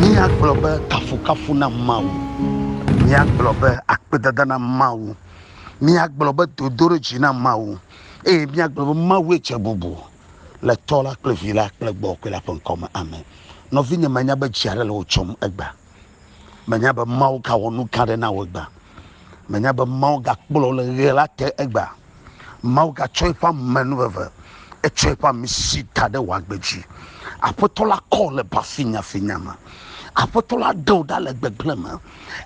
Míagblɔ be, Kafukafu na Mawu! Míagblɔ be, Akpedada na Mawu! Míagblɔ be, Dodoɖedzi na Mawu! Eye míagblɔ be, Mawue dze bubu le Tɔ la kple Vi la kple Gbɔgbɔ Kɔkɔe la ƒe ŋkɔ me. Amen. Nɔvinye, mènya be dzi aɖe le wò tsɔm egbea? Mènya be Mawu gawɔ nu gã aɖe na wò egbea? Mènya be Mawu gakplɔ wò le ɣe la te egbea? Mawu gatsɔ eƒe amenuveve, etsɔ eƒe amisi da ɖe wò agbe dzi. Aƒetɔ la kɔ le ba finyafinya me. Aƒetɔ la ɖe wò ɖa le gbegblẽ me.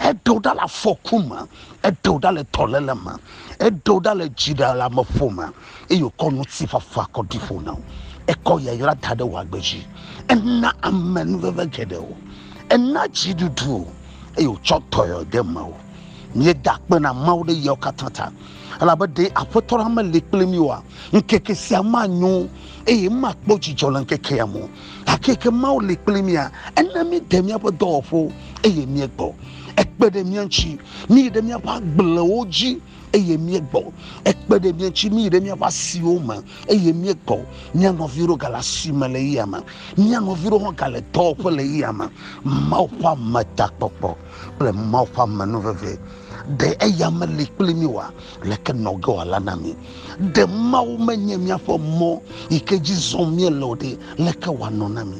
Eɖe wò ɖa le afɔku me. Eɖe wò ɖa le dɔléle me. Eɖe wò ɖa le dziɖeleameƒo me. Eye wòkɔ ŋutifafa kɔ ɖi ƒo na wò. Ekɔ yayra da ɖe wò agbe dzi. Ena amenuveve geɖe wò. Ena dziɖuɖu wò. Eye wòtsɔ dɔyɔyɔ de mewò. Míeda akpe na Mawu ɖe yawo katã ta. elabe ɖe aƒetɔ la meli kpli mí oa, ŋkeke sia manyo, eye makpɔ dzidzɔ le ŋkekea me o. Gake ke Mawu li kpli mía, ena míede míaƒe dɔwɔƒewo, eye míegbɔ. Ekpe ɖe mía ŋuti, míyi ɖe míaƒe agblewo dzi, eye míegbɔ. Ekpe ɖe mía ŋuti, míyi ɖe míaƒe asiwo me, eye míegbɔ. Mía nɔvi ɖewo gale asi me le eyame. Mía nɔvi ɖewo hã gale dɔwɔƒe le eyame. Mawu ƒe ametakpɔkpɔ. kple Mawu ƒe amenu vevie. Ɖe eya meli kpli mí oa? Leke nɔ ge wòala na mí? Ɖe Mawu menye míaƒe mɔ yi ke dzi zɔm míele o ɖe, leke wòanɔ na mí?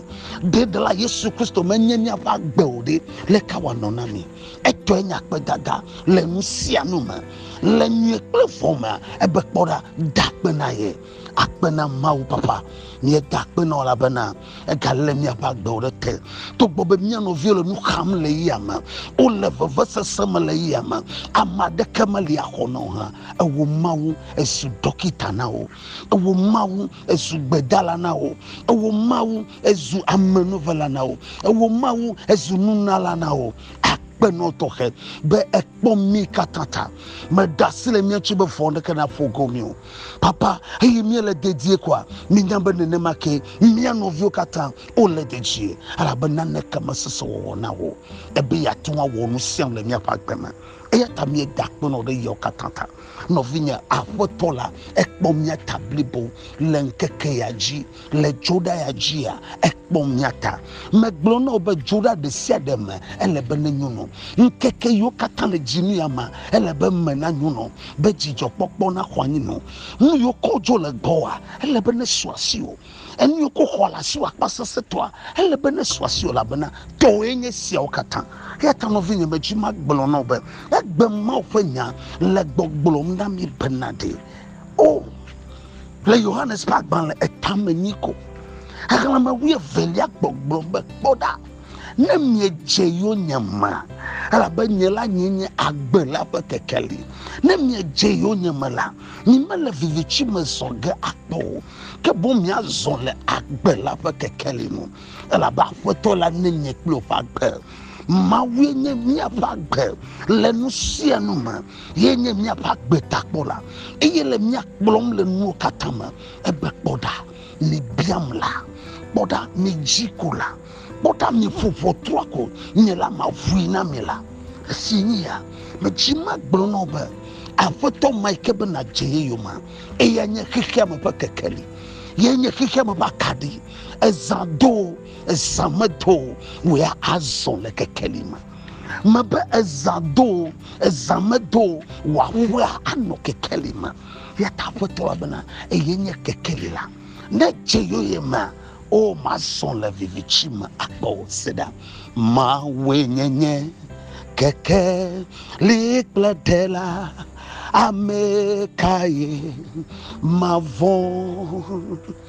Ɖe Ɖela Yesu Kristo menye míaƒe agbe o ɖe, leke wòanɔ na mí? Etɔe nye akpedada le nu sia nu me. Le nyui kple vɔ̃ mea, ebe kpɔ ɖa, da akpe na ye. Akpe na Mawu, Papa, míeda akpe na wò elabena Egalé míaƒe agbewo ɖe te. Togbɔ be mía nɔviwo le nu xam le yame, wole vevesese me le yame, ame aɖeke meli axɔ na wo hã. Ewɔ Mawu ezu ɖɔkita na wo. Ewɔ Mawu ezu gbedala na wo. Ewɔ Mawu ezu amenuvela na wo. Ewɔ Mawu ezu nunala na wo. Akpenɔ tɔxɛ be ekpɔ mí katã ta. Meɖe asi le mía ŋuti be vɔ̃ aɖeke naƒo go mí o. Papa, eye míele dedie koa? Míenya be nenema kee mía nɔviwo katã wole dedie, elabe naneke mesese wɔwɔ na wo o be yeate ŋu awɔ nu sia nu le míaƒe agbe me. Eya ta míeda akpe na wò ɖe yawo katã ta. Nɔvinye, Aƒetɔ la ekpɔ mía ta blibo le ŋkeke ya dzi. Le Judaya dzia, ekpɔ mía ta. Megblɔ na wò be Juda ɖe sia ɖe me ele be nenyono. Ŋkeke yiwo katã le dzi nu ya mea, ele be eme nanyono, be dzidzɔkpɔkpɔ naxɔ anyi nu. Nu yiwo ke wodzo le gbɔwòa, ele be nesu asiwò. Enu yiwo ke woxɔ le asiwò akpasesẽtɔa, ele be nesu asiwò, elabena tɔwòe nye esiawo katã. Eya ta nɔvinye, medzi be magblɔ na wò be, egbe Mawu ƒe nya le gbɔgblɔm na mí bena ɖe, O! Le Yohanes ƒe agbalẽ etame nyi ko. Xexlẽme wuievelia gbɔgblɔ be, Kpɔ ɖa, ne miedze yonyeme, elabe nye la nye nye agbe la ƒe kekeli. Ne miedze yonyeme la, mimele viviti me zɔ ge akpɔ o, ke boŋ miazɔ le agbe la ƒe kekeli nu, elabe Aƒetɔ la nenye kple woƒe agbe. Mawue nye míaƒe agbe le nu sia nu me. ye nye míaƒe agbe ta kpɔna eye le mía kplɔm le nuwo katã me egbe kpɔɖa mi biam la kpɔɖa mi dzi ko la kpɔɖa mi ƒo ʋɔtrua ko nye la ma vui na mi la esi nye ya medzi ma gblɔ nɔ be aƒetɔ ma ike be na dze ye yoma eya nye xexea me ƒe kekeli ye nye xexea me ƒe akaɖi ezã do ezã medo wòya azɔ le kekeli me mebe ezã do Ezã medo o, wò aƒea anɔ kekeli me, eya ta Aƒetɔ la bena, Eye nye kekeli la. Ne edze yɔye mea, o, mazɔ le viviti me akpɔ wò. Sela. Mawue nye nye kekeli kple ɖela, ame kae mavɔ̃?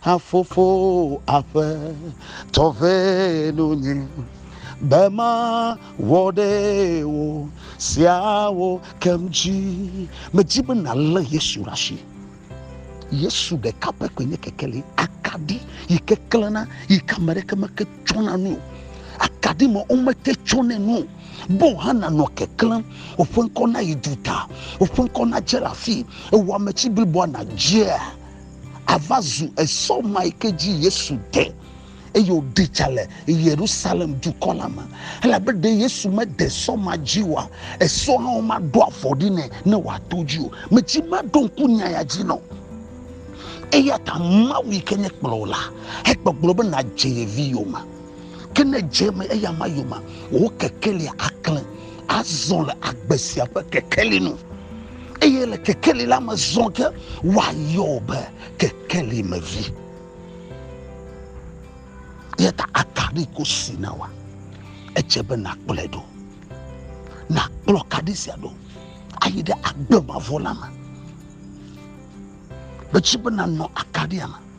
Hafofo aƒe tɔ ʋɛ nu nye be ma wɔ ɖe wo sia wo kem dzi. Me dzi be na le Yesu ɖa shi. Yesu ɖeka pɛ koe nye kekeli, akaɖi yi ke klena yi ke ame ɖeke me ke tsɔna nu o. Akaɖi ma wo me te tsɔne nu o. Bo hã na nɔ keklem, woƒe ŋkɔ na yi du ta, woƒe ŋkɔ na dze la fi, ewɔ ame tsi bliboa na dzea. ava zu esɔ ma yi ke dzi Yesu de eye wòɖi tsa le Yerusalem dukɔ la me. Elabe ɖe Yesu mede sɔ ma dzi oa, esɔ hã womaɖo afɔ ɖi nɛ ne wòato dzi o. Metsi maɖo ŋku nya ya dzi nɔ. Eya ta Mawu yi ke nye kplɔwò la, egbɔgblɔ be nàdze ye vi yome. Ke ne dze eme eya ma yomea, wò kekelia aklẽ azɔ le agbe sia ƒe kekeli nu, eye le kekeli la me zɔ ke woayɔ wò be kekeli me vi. Eya ta akaɖi ko si na wa, edze be nakplɔe ɖo. Nakplɔ kaɖi sia ɖo ayi ɖe agbe mavɔ la me. Metsi be nanɔ akaɖia me.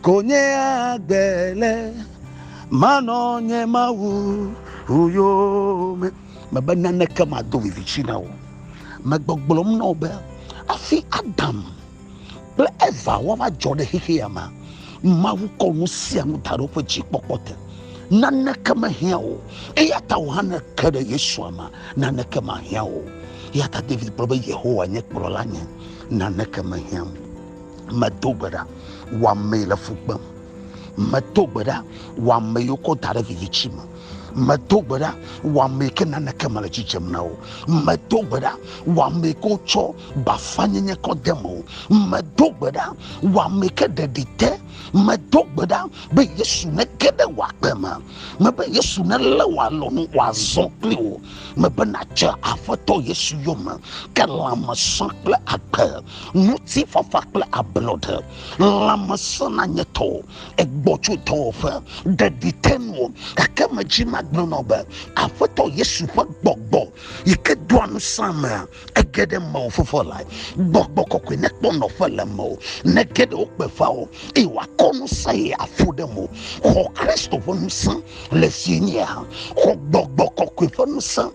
Ko nye agbe le, manɔ nye Mawu yome. Mebe naneke mado viviti na wò. Megbɔgblɔm na wò be hafi Adam kple Eva woava dzɔ ɖe xexea mea, Mawu kɔ nu sia nu da ɖe woƒe dzikpɔkpɔ te. Naneke mehiã wò o. Eya ta wò hã ne èke ɖe Yesua mea, naneke mahiã wò o. Eya ta David gblɔ be, Yehowa nye kplɔlanye, naneke mehiãm o. Medo gbe ɖa, wò ame yi le fu kpem. Medo gbe ɖa, wò ame yi wokɔ da ɖe viviti me. Medo gbe ɖa, wò ame yi ke naneke mele dzidzem na o. Medo gbe ɖa, wò ame yi ke wotsɔ bafanyenye kɔ de me o. Medo gbe ɖa, wò ame yi ke ɖeɖi te. Medo gbe ɖa be Yesu nege ɖe wò agbe me. Mebe Yesu nelé wò alɔnu wòazɔ kpli wò. Mebe nàdze Aƒetɔ Yesu yome, ke lãme sã kple agbe. ŋutifafa kple ablɔɖe, lãmesẽ na nye tɔ, egbɔ tso dɔwɔƒe, ɖeɖi te nuwò, gake medzi magblɔ nɔ be, Aƒetɔ Yesu ƒe gbɔgbɔ yi ke doa nusẽamea, ege ɖe mewò fofo lae. Gbɔgbɔ kɔkɔe nekpɔ nɔƒe le mewò, nege ɖe wokpeƒa wò, eye wòakɔ ŋusẽ ɣi aƒu ɖe mo. Xɔ Kristo ƒe ŋusẽ le ŋutinye hã. Xɔ gbɔgbɔ kɔkɔe ƒe ŋusẽ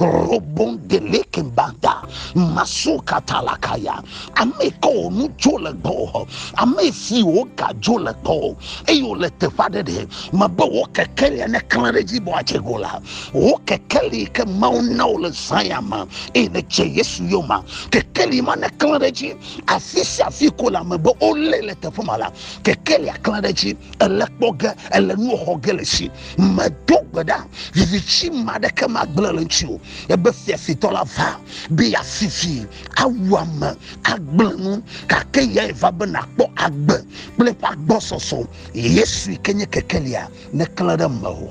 Robon delekin banda maso katalakaya ame kawo nu dzo le gbɔwò ame siwo gadzo le gbɔwò eye wòle teƒe aɖe ɖe mebe wò kekeli ane klẽ ɖe dzi be wòadze go la wò kekeli yi ke mawu na wò le zã ya me eye nèdze yesu yoma kekeli ma ne klẽ ɖe dzi afi sia afi ko le ame be wolé le teƒe ma la kekelia klẽ ɖe dzi ele kpɔ ge ele nuwo xɔ ge le si medo gbe ɖa viviti ma ɖeke magblẽ le ŋuti o ebe fiafitɔ la va be yeafifi awu ame agblẽ nu gake yae va be nàkpɔ agbe kple eƒe agbɔsɔsɔ yesu ke nye kekelia neklẽ ɖe mewò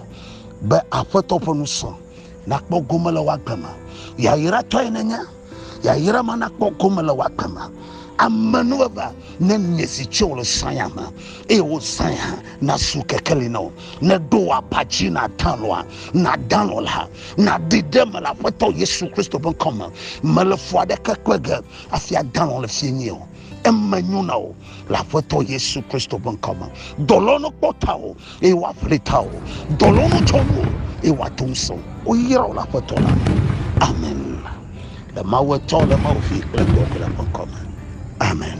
be aƒetɔ ƒe nusɔ nakpɔ gome le woagbe me yayratɔe nenye Yayra ma nakpɔ gome le wò agbe me. Amenuveve ne nye si tso wò le sanya me, eye wò sanya nasu kekeli na wò. Ne ɖo wò aba dzi nàdã lɔa, nàdã lɔ la, nàɖi ɖe eme le Aƒetɔ Yesu Kristo ƒe ŋkɔ me. Mele fu aɖeke kpe ge hafi adã lɔ le fiẽ nyuie o. eme nyo na wò le aƒetɔ yesu kristo ƒe ŋkɔ me dɔlɔnu kpɔ ta o eye woaƒli ta o dɔlɔnu tsɔ wu o eye woato ŋusẽ o woyra wo le aƒetɔ la me amen le mawu etɔ le mawu vi kple gbɔgblẽ ƒe ŋkɔ me amen